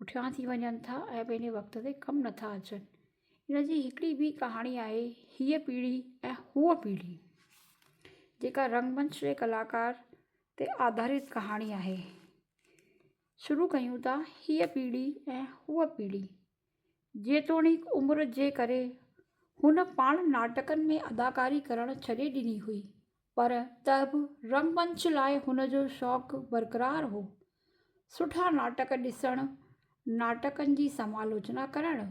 پٺيان ٿي وڃن ٿا ۽ پنهنجي وقت تي ڪم نٿا اچن ان جي هڪڙي ٻي ڪهاڻي آهي هيء پيڙهي ۽ هوء پيڙهي جيڪا رنگمنچ جي ڪلاڪار تي آڌارت ڪهاڻي آهي شروع ڪيون ٿا هيء پيڙهي ۽ هوء پيڙهي جيتوڻيڪ عمر جي ڪري هن پاڻ ناٽڪن ۾ اداڪاري ڪرڻ ڇڏي ڏني هئي پر ته به رنگمنچ لاء هن جو شوق برقرار هو. سٺا ناٽڪ ڏسڻ، ناٽڪن جي سمالاچنا ڪرڻ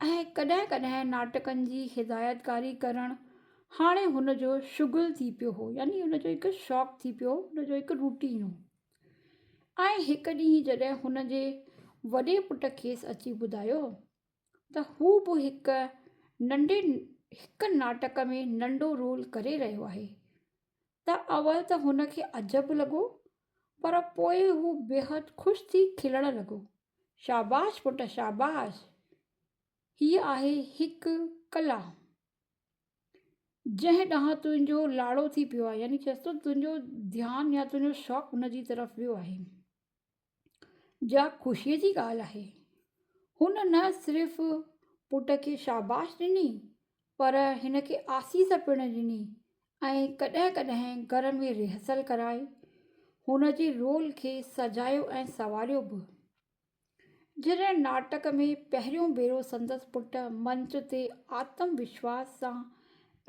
۽ ڪڏهن ڪڏهن ناٽڪن جي هدايتڪاري ڪرڻ هاڻي هن جو شغل ٿي پيو هو يعني هن جو هڪ شوق ٿي پيو هو، هن جو هڪ روٽين هو. ۽ هڪ ڏينهن جڏهن هن جي وڏي پٽ کيس اچي ٻڌايو. ته هو به هڪ ننڍي هڪ ناٽڪ ۾ ننڍو رول ڪري رهيو آهي ته اول ته هن کي عجب لڳو پر پوء هو بيحد خوش ٿي کلڻ لڳو شاباش پٽ شاباش هيء آهي هڪ ڪلا جنهن ڏانهن تنهنجو لاڙو ٿي پيو آهي يعني چيس ٿو تنهنجو ڌيان يا تنهنجو شوق ان جي طرف ويو آهي جا خوشيء جي ڳالهه آهي. هن نه صرف پٽ کي شاباش ڏني پر هن کي آسيس پڻ ڏني ۽ ڪڏهن ڪڏهن گهر ۾ ريهرسل ڪرائي هن جي رول کي سجايو ۽ سنواريو به. جڏهن ناٽڪ ۾ پهريون ڀيرو سندس پٽ منچ تي آتم وشواس سان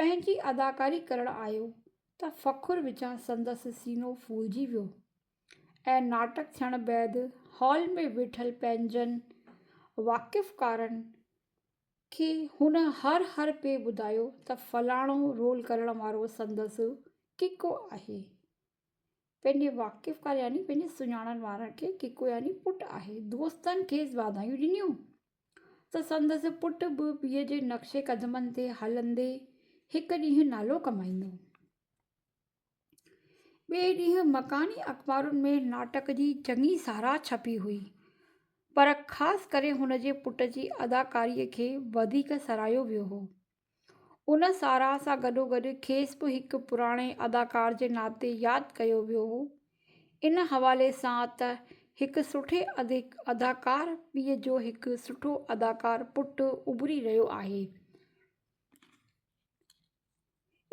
پنهنجي اداڪاري ڪرڻ آيو ته فخر وچان سندس سينو ڦولجي ويو. ۽ ناٽڪ ٿيڻ بعد هال ۾ ويٺل پنهنجن واقفڪارن کي هن هر هر پي ٻڌايو ته فلاڻو رول ڪرڻ وارو سندس ڪڪو آهي. پنهنجي واقفڪار يعني پنهنجي سڃاڻڻ وارن کي ڪڪو يعني پٽ آهي. دوستن کيس واڌايون ڏنيون ته سندس پٽ به پيء جي نقش قدمن تي هلندي هڪ ڏينهن نالو ڪمائيندو. ٻئي ڏينهن مڪاني اخبارن ۾ ناٽڪ جي چڱي ساراهه ڇپي هئي پر خاص ڪري هن جي پٽ جي اداڪاريء کي وڌيڪ ساراهيو ويو هو. ان ساراهه سان گڏوگڏ کيس به هڪ پراڻي اداڪار جي ناتي ياد ڪيو ويو هو. ان حوالي سان ته هڪ سٺي اداڪار پيء جو هڪ سٺو اداڪار پٽ اڀري رهيو آهي.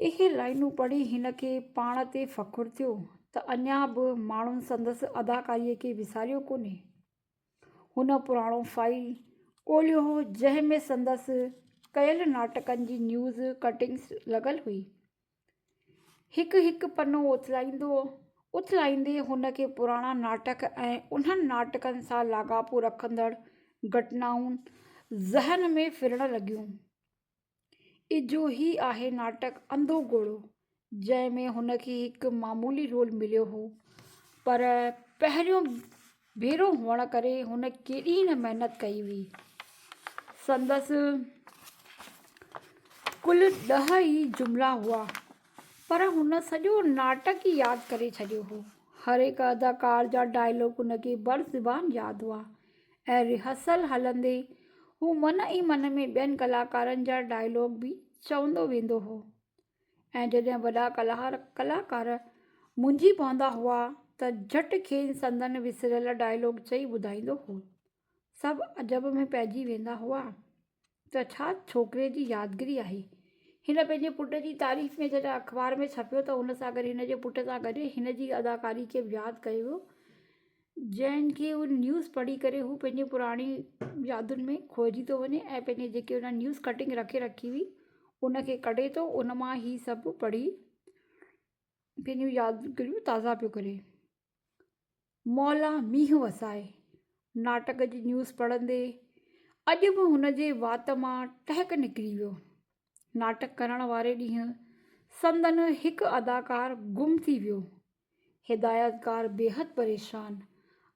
اهي لائينون پڙهي هن کي پاڻ تي فخر ٿيو ته اڃا به ماڻهن سندس اداڪاريء کي وساريو ڪونهي. هن پراڻو فائيل ڳولهيو هو جنهن ۾ سندس ڪيل ناٽڪن جي نيوز ڪٽنگس لڳل هئي. هڪ هڪ پنو اٿلائيندو اٿلائيندي هن کي پراڻا ناٽڪ ۽ انهن ناٽڪن سان لاڳاپو رکندڙ گهٽنائون ذهن ۾ ڦرڻ لڳيون. اجهو ئي آهي ناٽڪ انڌو گهوڙو جنهن ۾ هن کي هڪ معمولي رول مليو هو پر پهريون ڀيرو هئڻ ڪري هن ڪيڏي نه محنت ڪئي هئي. سندس ڪل ڏهه ئي جملا هئا پر هن سڄو ناٽڪ ئي ياد ڪري ڇڏيو هو. هر هڪ اداڪار جا ڊائلاگ هن کي بر زبان ياد هئا ۽ ريهرسل هلندي هو من ئي من ۾ ٻين ڪلاڪارن جا ڊائلاگ به چوندو ويندو هو ۽ جڏهن وڏا ڪلهار ڪلاڪار منجهي پوندا هئا ته جهٽ کين سندن وسريل ڊائلاگ چئي ٻڌائيندو هو. سڀ عجب ۾ پئجي ويندا هئا. ته ڇا ڇوڪري جي يادگري آهي. هن پنهنجي پٽ جي تعريف ۾ جڏهن اخبار ۾ ڇپيو ته ان سان گڏ هن جي پٽ سان گڏ هن جي اداڪاري کي به ياد ڪيو ويو جنهن کي اهو نيوز پڙهي ڪري هو پنهنجي پراڻي يادن ۾ کوئجي ٿو وڃي ۽ پنهنجي جيڪي هن نيوز ڪٽنگ رکي رکي هئي ان کي ڪڍي ٿو ان مان هي سڀ پڙهي پنهنجون يادگريون تازا پيو ڪري. مولا مينهن وسائي ناٽڪ جي نيوز پڙهندي اڄ به هن جي وات مان ٽهڪ نڪري ويو. ناٽڪ ڪرڻ واري ڏينهن سندن هڪ اداڪار گم ٿي ويو. هدايتڪار بيحد پريشان.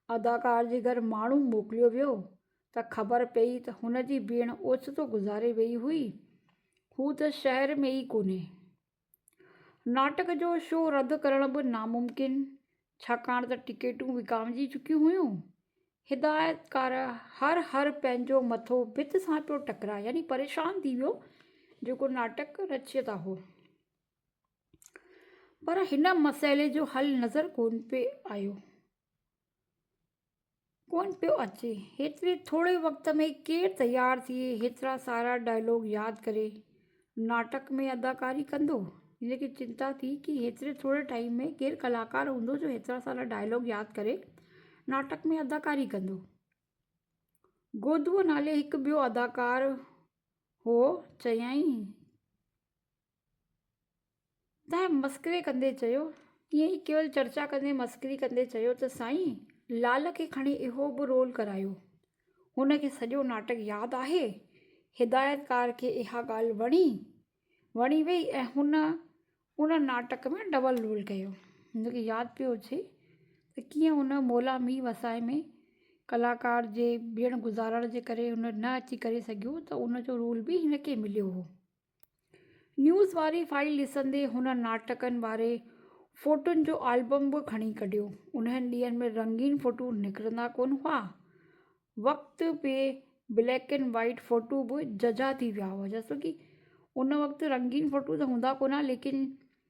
اداڪار جي گهر ماڻهو موڪليو ويو ته خبر پئي ته هن جي ڀيڻ اوچتو گذاري ويئي هئي. هو ته شهر ۾ ئي ڪونهي. ناٽڪ جو شو رد ڪرڻ به ناممڪن ڇاڪاڻ ته ٽڪيٽون وڪامجي چڪيون هيون. هدايتڪار هر هر پنهنجو مٿو ڀت سان پيو ٽڪرائي يعني پريشان ٿي ويو جيڪو ناٽڪ رچيتا هو. پر هن مسئلي جو حل نظر ڪونه پئي آيو. ڪونه پيو اچي هيتري ٿوري وقت ۾ ڪير تيار ٿئي هيترا سارا ڊائلاگ ياد ڪري ناٽڪ ۾ اداڪاري ڪندو هن کي چنتا ٿي ڪي هيتري ٿوري ٽائيم ۾ ڪير ڪلاڪار هوندو جو هيترا سارا ڊائلاگ ياد ڪري ناٽڪ ۾ اداڪاري ڪندو گودوء نالي هڪ ٻيو اداڪار هو چيائين تنهن مسخري ڪندي چيو، ائين ئي ڪيول چرچا ڪندي مسخري ڪندي چيو ته سائين لعل کي کڻي اهو به رول ڪرايو. هن کي سڄو ناٽڪ ياد آهي. هدايتڪار کي اها ڳالهه وڻي وڻي وئي ۽ هن ان ناٽڪ ۾ ڊبل رول ڪيو. هن کي ياد پيو اچي ته ڪيئن هن مولا مير وسائي ۾ ڪلاڪار جي ڏيڻ گذارڻ جي ڪري هن نه اچي ڪري سگهيو ته ان جو رول به هن کي مليو هو. نيوز واري فائيل ڏسندي هن ناٽڪن واري فوٽن جو آلبم به کڻي ڪڍيو. انهن ڏينهن ۾ رنگين فوٽو نڪرندا ڪونه هئا. وقت پي بليڪ اينڊ وائيٽ فوٽو به ججها ٿي ويا هئا جسو ڪي ان وقت رنگين فوٽو ته هوندا ڪونه هئا ليڪن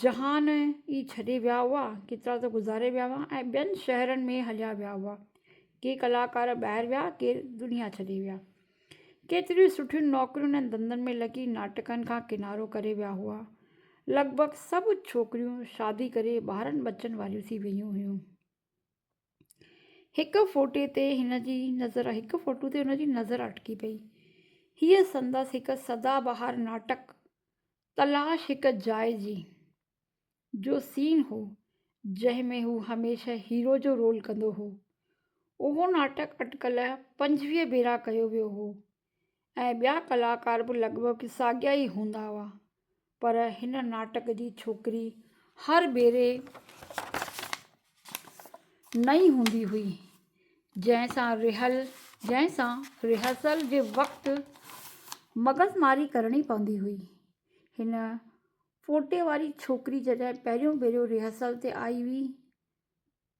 جهان ئي ڇڏي ويا هئا، ڪيترا ته گذاري ويا هئا ۽ ٻين شهرن ۾ هليا ويا هئا. ڪي ڪلاڪار ٻاهر ويا، ڪي دنيا ڇڏي ويا. ڪيتريون سٺيون نوڪرين ۽ ڌنڌن ۾ لڳي ناٽڪن کان ڪنارو ڪري ويا هئا. لڳ ڀڳ سڀ ڇوڪريون شادي ڪري ٻارن ٻچن واريون ٿي ويون هيون. هڪ فوٽي تي هن جي نظر هڪ فوٽو تي هن جي نظر اٽڪي پئي. هيء سندس هڪ سدا بهار ناٽڪ تلاش هڪ جاء جي جو سين هو جنهن ۾ هو هميشه هيرو جو رول ڪندو هو. اهو ناٽڪ اٽڪل پنجويهه ڀيرا ڪيو ويو هو ۽ ٻيا ڪلاڪار به لڳ ڀڳ ساڳيا ئي هوندا هئا پر هن ناٽڪ جي ڇوڪري هر ڀيري نئين هوندي هئي، جنهن سان رهل جنهن سان رهرسل جي وقت مغز ماري ڪرڻي پوندي هئي. هن ڦوٽي واري ڇوڪري جڏهن پهريون ڀيرو رهرسل تي آئي هئي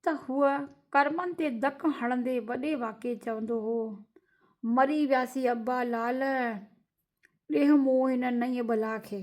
ته هوء ڪرمن تي ڌڪ هڻندي وڏي واڪي چوندو هو، مري وياسي ابا لعل، ڏيه مون هن نئين بلا کي.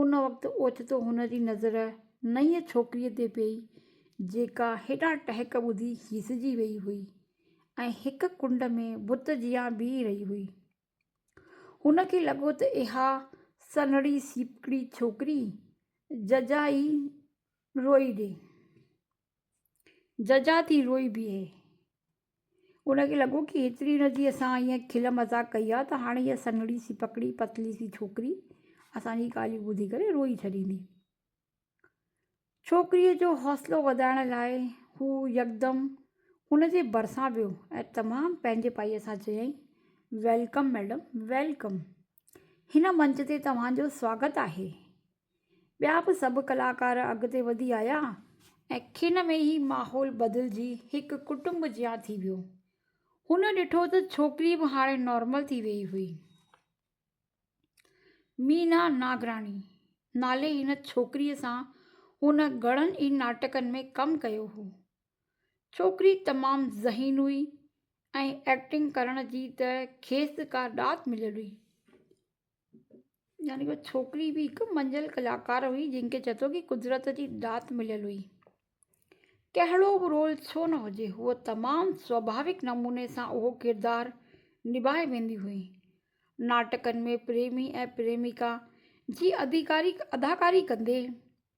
ان وقت اوچتو هن جي نظر نئين ڇوڪريء تي پيئي، جيڪا هيڏا ٽهڪ ٻڌي هيسجي ويئي هئي ۽ هڪ ڪنڊ ۾ بت جيان بيهي رهي هئي. هن کي لڳو ته اها سنهڙي سيپڪڙي ڇوڪري ججا ئي روئي ڏي. جزا ٿي روئي بيهي. ان کي لڳو ڪي هيتري هن جي اسان ائين کل مزاق ڪئي آ ته هاڻي هيء سنهڙي سي پڪڙي پتلي سي ڇوڪري اسان جي ڳالهيون ٻڌي ڪري روئي ڇڏيندي. ڇوڪريء جو حوصلو وڌائڻ لاء هو يڪدم ان جي ڀرسان ويو ۽ تمام پنهنجي پائيء سان چيائين، ويلڪم ميڊم، ويلڪم. هن منچ تي توهان جو سواگت آهي. ٻيا به سڀ ڪلاڪار اڳتي وڌي آيا ۽ کن ۾ ئي ماحول بدلجي هڪ ڪٽنب جيان ٿي ويو. هن ڏٺو ته ڇوڪري به هاڻي نارمل ٿي ويئي هئي. مينا ناگراڻي نالي هن ڇوڪريء سان هن گهڻن ئي ناٽڪن ۾ ڪم ڪيو هو. ڇوڪري تمام ذهين هئي ۽ ايڪٽنگ ڪرڻ جي ته کيس ڪا ڏات مليل هئي. يعني هوء ڇوڪري به هڪ منجهيل ڪلاڪار هئي جنهن کي چئي ٿو ڪي قدرت جي ڏات مليل هئي. ڪهڙو به رول ڇو نه هجي هوء تمام سواڀاوڪ نموني سان اهو ڪردار نڀائي ويندي هئي. ناٽڪن ۾ پريمي ۽ پريميڪا جي اداڪاري ڪندي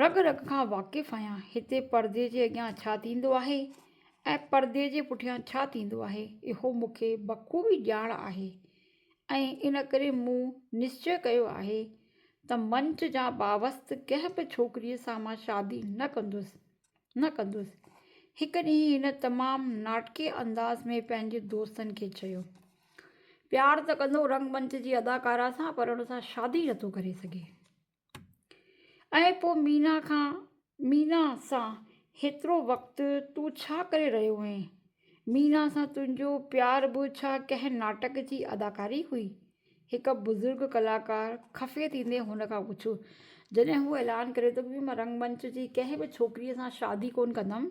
رڳ رڳ کان واقف آهيان، هتي پردي جي اڳيان ڇا ٿيندو آهي ۽ پردي جي پٺيان ڇا ٿيندو آهي، اهو مون کي بخوبي ڄاڻ آهي ۽ ان ڪري مون نشچي ڪيو آهي ته منچ جان باوست ڪنهن به ڇوڪريء سان مان شادي نه ڪندس، نه ڪندس. هڪ ڏينهن هن تمام ناٽڪي انداز ۾ پنهنجي دوستن کي چيو. پيار ته ڪندو رنگ منچ جي اداڪارا سان پر ان سان شادي نٿو ڪري سگهي. ۽ پوء مينا کان مينا سان هيترو وقت تون ڇا ڪري رهيو هئين؟ مينا سان تنهنجو پيار به ڇا ڪنهن ناٽڪ جي اداڪاري هئي؟ هڪ بزرگ ڪلاڪار خفي ٿيندي هن کان پڇيو. جڏهن هو اعلان ڪري ٿو ته مان رنگ منچ جي ڪنهن به ڇوڪريء سان شادي ڪونه ڪندم،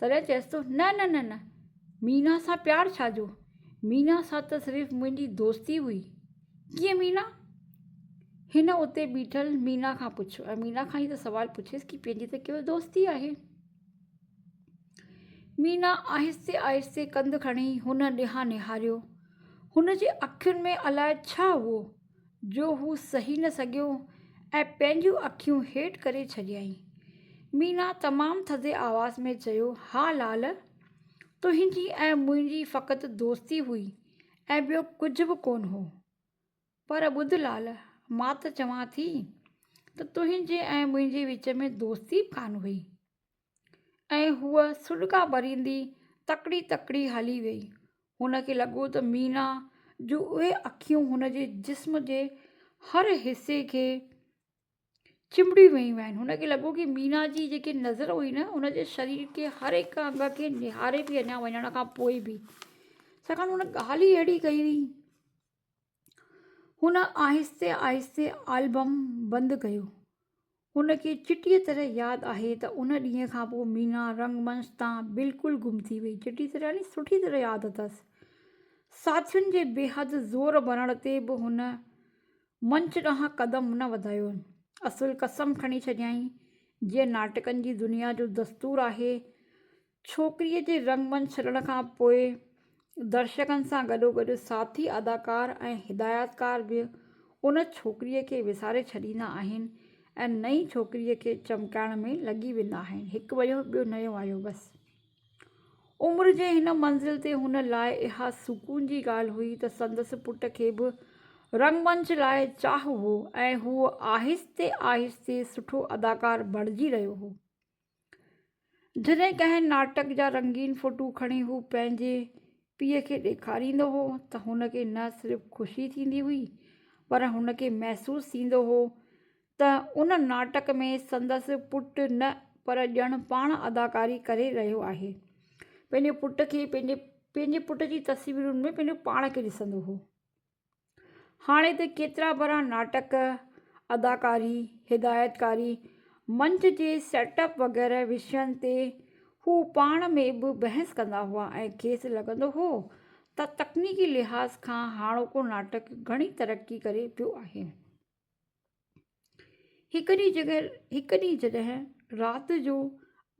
تڏهن چيس ٿو، نه نه نه نه، مينا سان پيار ڇا جو، مينا سان ته صرف منهنجي دوستي هئي. ڪيئن مينا؟ هن اتي بيٺل مينا کان پڇيو ۽ مينا کان ئي ته سوال پڇيس ڪي پنهنجي ته ڪيول دوستي آهي. مينا آهستي آهستي ڪنڌ کڻي هن ڏانهن نهاريو. هن جي اکين ۾ الاء ڇا هئو. جو هو سهي نه سگهيو ۽ پنهنجون اکيون هيٺ ڪري ڇڏيائين. مينا تمام ٿڌي آواز ۾ چيو، ها لال! تنهنجي ۽ منهنجي فقط دوستي هئي ۽ ٻيو ڪجهه به ڪونه هو. پر ٻڌ لال! مان ته چوان ٿي ته تنهنجي ۽ منهنجي وچ ۾ دوستي به ڪانه هئي. ۽ هوء سڏڪا ڀريندي تڪڙي تڪڙي هلي ويئي. هن کي لڳو ته مينا جون اهي اکيون هن جي جسم جي هر حصي کي چنبڙي ويون آهن. هن کي لڳو ته مينا جي جيڪي نظر هئي نه هن جي شرير جي هر هڪ انگ کي نهاري پئي اڃا وڃڻ کان پوء به. ڇاڪاڻ ته هن ڳالهه ئي اهڙي ڪئي هئي. هن آهستي آهستي آلبم بند ڪيو. هن کي چٽيء طرح ياد آهي ته ان ڏينهن کان پوء مينا رنگمنچ تان بلڪل گم ٿي وئي. چٽيء طرح يعني سٺيء طرح ياد اٿس. ساٿين جي بيحد زور ڀرڻ تي به هن منچ ڏانهن قدم نه وڌايو. اصل قسم کڻي ڇڏيائين، جيئن ناٽڪن جي دنيا جو دستور آهي ڇوڪريء جي رنگ من ڇڏڻ کان پوء درشڪن سان گڏوگڏ ساٿي اداڪار ۽ هدايتڪار به ان ڇوڪريء کي وساري ڇڏيندا آهن ۽ نئين ڇوڪريء کي چمڪائڻ ۾ لڳي ويندا آهن، هڪ ويو ٻيو نيو آيو بس. عمر جي هن منزل تي هن لاء اها سڪون جي ڳالهه هئي ته سندس پٽ کي به رنگمنچ لاء چاهه هو ۽ هو آهستي آهستي سٺو اداڪار بڻجي رهيو هو. جڏهن ڪنهن ناٽڪ جا رنگين فوٽو کڻي هو پنهنجي پيء کي ڏيکاريندو هو ته هن کي نه صرف خوشي ٿيندي هئي پر هن کي محسوس ٿيندو هو ته ان ناٽڪ ۾ سندس پٽ نه پر ڄڻ پاڻ اداڪاري ڪري رهيو آهي. پنهنجي پٽ کي پنهنجي پنهنجي پٽ جي تصويرن ۾ پنهنجو پاڻ کي ڏسندو هو. هاڻي ته ڪيترا ڀرا ناٽڪ، اداڪاري، هدايتڪاري، منچ جي سيٽ اپ وغيره وشين تي هو پاڻ ۾ به بحث ڪندا هئا ۽ کيس لڳندو هو ته تڪنيڪي لحاظ کان هاڻوڪو ناٽڪ گهڻي ترقي ڪري پيو آهي. هڪ ڏينهن جڏهن رات جو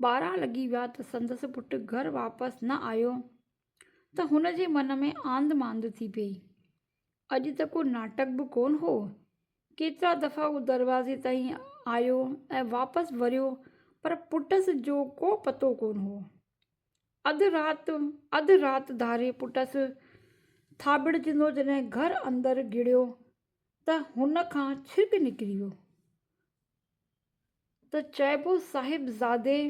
ٻارهن لڳي ويا ته سندس پٽ گهر واپس نه آيو ته هن جي من ۾ آنڌ مانڌ ٿي پيئي. اڄ ته ڪو ناٽڪ به ڪونه هو. ڪيترا دفعا هو دروازي تائين آيو ۽ واپس وريو پر پٽس جو ڪو پتو ڪونه هو. اڌ رات اڌ رات ڌاري پٽس ٿاٻڙجندو جڏهن گهر اندر گهڙيو ته هن کان ڇرڪ نڪري ويو ته چئبو صاحبزادي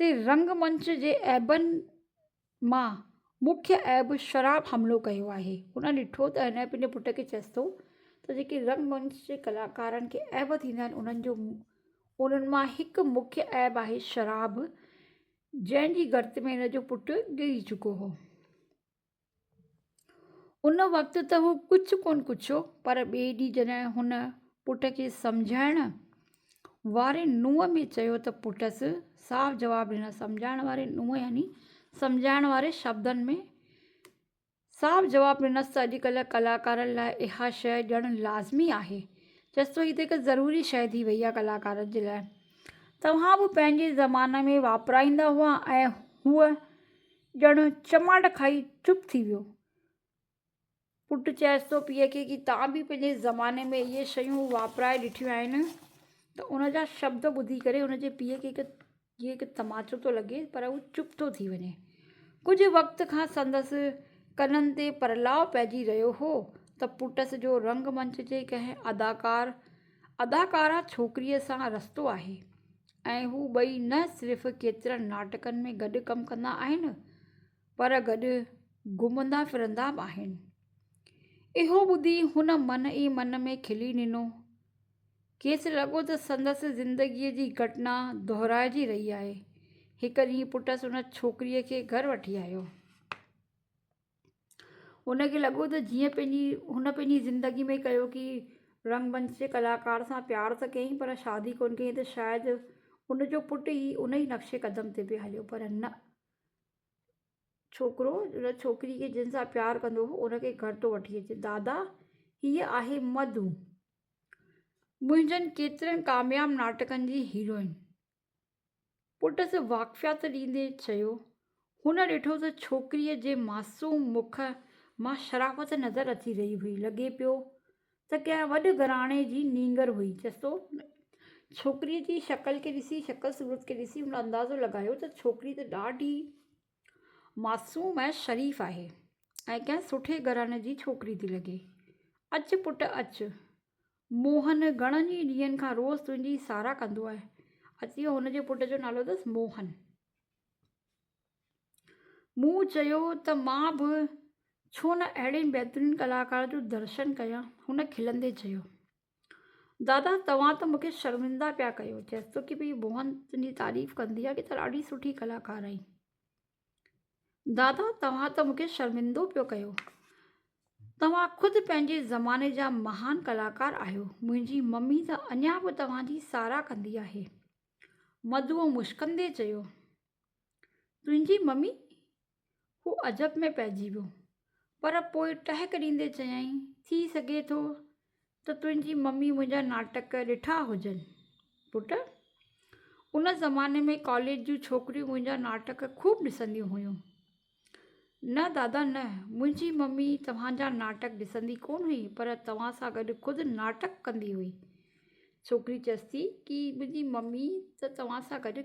تي رنگمنچ جي عيبن مان مکيه عيب شراب حملو ڪيو آهي. هن ڏٺو ته هن پنهنجي پٽ کي چيس ٿو ته جيڪي رنگمنچ جي ڪلاڪارن کي عيب ٿيندا آهن انهن جو انهن مان هڪ مکيه عيب آهي شراب جنهن جي گرت ۾ هن جو پٽ ڪري چڪو هو. ان وقت ته هو ڪجهه ڪونه ڪڇيو پر ٻئي ڏينهن جڏهن هن پٽ کي سمجهائڻ واري نونهن ۾ چيو ته پٽس صاف جواب ڏنس سمجهائڻ واري نونهن يعني سمجهائڻ واري شبدن ۾ صاف جواب ڏنس ته اڄ ڪلهه ڪلاڪارن لاء اها شيء ڄڻ لازمي آهي چيس ٿو هي ته هڪ ضروري شيء ٿي وئي آهي ڪلاڪارن جي لاء توهان به پنهنجي زماني ۾ واپرائيندا هئا ۽ هوء ڄڻ چماٽ کائي چپ ٿي ويو. پٽ چيس ٿو پيء کي ڪي تان به پنهنجي زماني ۾ اهي شيون واپرائي ڏٺيون آهن ته ان جا شبد ٻڌي ڪري ان جي پيء کي هڪ جيئن هڪ تماچو ٿو لڳي پر هو چپ ٿو ٿي وڃي. ڪجهه وقت کان سندس ڪنن تي پرلاء پئجي رهيو هو ته پٽس جو رنگ منچ جي ڪنهن اداڪار اداڪارا ڇوڪريء سان رستو آهي ۽ هو ٻئي نه صرف ڪيترن ناٽڪن ۾ گڏ ڪم ڪندا آهن پر گڏ گهمندا ڦرندا به آهن. اهو ٻڌي هن من ئي من ۾ کلي ڏنو. کيس لڳو ته سندس زندگيء جي گهٽنا دهرائجي رهي آهي. هڪ ڏينهن پٽس ان ڇوڪريء کي گهر وٺي آيو. هن کي لڳو ته جيئن پنهنجي هن پنهنجي زندگي ۾ ڪيو ڪي رنگمنچ جي ڪلاڪار سان پيار ته ڪيائين پر شادي ڪونه ڪيائين ته شايد ان جو پٽ ئي ان ئي نقش قدم تي پئي هليو پر نه ڇوڪرو ان ڇوڪري کي جنهن سان پيار ڪندو هو ان کي گهر ٿو وٺي اچي دادا هيء آهي مڌو منهنجن ڪيترن ڪامياب ناٽڪن جي هيروئن پٽس واقفيت ڏيندي چيو. هن ڏٺو ته ڇوڪريء جي معصوم مک مان شرافت نظر اچي رهي هئي. لڳي پيو ته ڪنهن وڏ گهراڻي جي نينگر هئي. چستو ڇوڪريء جي شڪل کي ڏسي، شڪل صورت کي ڏسي هن اندازو لڳايو ته ڇوڪري ته ڏاڍي معصوم ۽ شريف آهي ۽ ڪنهن سٺي گهراڻي جي ڇوڪري ٿي لڳي. اچ پٽ اچ. موهن گهڻن ئي ڏينهن کان روز تنهنجي ساراهه ڪندو آهي. اتي هن جي پٽ جو نالو اٿس موهن. مون چيو ته مان به ڇو نه اهڙي بهترين ڪلاڪار جو درشن ڪيان. هن کلندي چيو. دادا توهان ته مونکي شرمنده پيا ڪيو. چيس ٿو ڪي ڀئي موهن تنهنجي تعريف ڪندي آهي ڪي ته ڏاڍي سٺي ڪلاڪار آهين. دادا توهان ته مونکي شرمندو پيو ڪيو توهان خود پنهنجي زماني جا مهان ڪلاڪار آهيو منهنجي ممي ته اڃا به توهان جي ساراهه ڪندي آهي مڌوء مشڪندي چيو تنهنجي ممي هو عجب ۾ پئجي ويو پر پوء ٽهڪ ڏيندي چيائين، ٿي سگهي ٿو ته تنهنجي ممي منهنجا ناٽڪ ڏٺا هجن. پٽ! ان زماني ۾ ڪاليج جون ڇوڪريون منهنجا ناٽڪ خوب ڏسنديون هيون. نه دادا نه، منهنجي ممي توهان جا ناٽڪ ڏسندي ڪونه هئي پر توهان سان گڏ خود ناٽڪ ڪندي هئي. ڇوڪري چيس ٿي ڪي منهنجي ممي ته توهان سان گڏ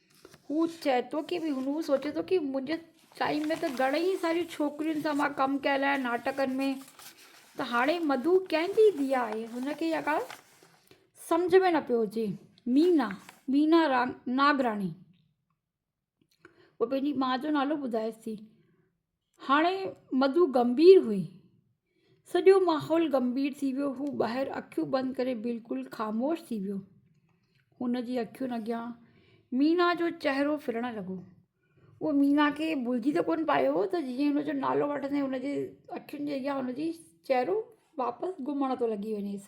هو چئي ٿو ته هن سوچيو ته منهنجي ٽائيم ۾ ته گهڻيئي ساريون ڇوڪرين سان مان ڪم ڪيل آهي ناٽڪن ۾ ته هاڻي مڌو ڪنهن جي ڌيء آهي هن کي اها ڳالهه سمجهه ۾ نه پيو اچي مينا، Meena Nagrani، پنهنجي ماء جو نالو ٻڌائيس ٿي. هاڻي مڌو گنڀير هئي. سڄو ماحول گنڀير ٿي ويو هو ٻاهر اکيون بند ڪري بلڪل خاموش ٿي ويو. هن جي اکين اڳيان مينا جو چهرو ڦرڻ لڳو. هو مينا کي ڀلجي ته ڪونه پايو هو ته جيئن هن جو نالو وٺندي هن جي اکين جي اڳيان هن جي چهرو واپس گهمڻ ٿو لڳي وڃيس.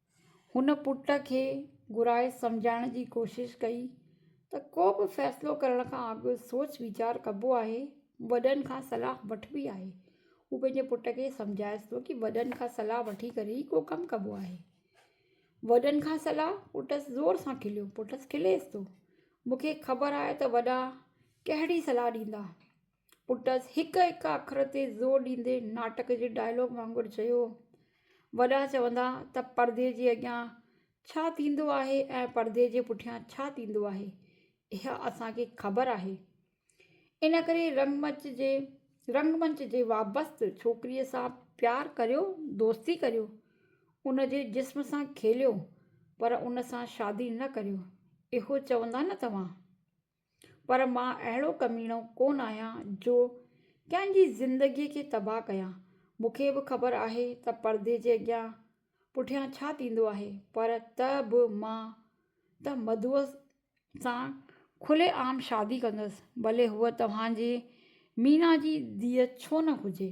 هن پٽ کي گهرائي سمجهائڻ جي ڪوشش ڪئي ته ڪو به فيصلو ڪرڻ کان اڳ سوچ ويچار ڪبو آهي، وڏن کان صلاح وٺبي آهي. هو پنهنجي پٽ کي سمجهائيس ٿو ته وڏن کان صلاح وٺي ڪري ئي ڪو ڪم ڪبو آهي. وڏن کان صلاح پٽس زور سان کليو. پٽس کليس ٿو، مون کي خبر آهي ته وڏا ڪهڙي صلاح ڏيندا. پٽس هڪ هڪ اکر تي زور ڏيندي ناٽڪ جي ڊائلاگ وانگر چيو، وڏا چوندا ته پردي جي اڳيان ڇا ٿيندو آهي ۽ پردي جي پٺيان ڇا ٿيندو آهي، اها اسان کي خبر آهي. ان ڪري رنگمنچ جي رنگمنچ جي وابست ڇوڪريء سان پيار ڪريو، دوستي ڪريو، ان جي جسم سان کيليو، پر ان سان شادي نه ڪريو، اهو چوندا نه توهان؟ پر مان اهڙو ڪميڻو ڪونه آهيان جو ڪنهن جي زندگيء کي تباهه ڪيان. مون کي به خبر آهي ته پردي جي اڳيان پٺيان ڇا ٿيندو آهي پر ته به مان ته مڌوء سان کلي عام شادي ڪندس، ڀلي هوء توهان جي مينا جي ڌيء ڇو نه هجي.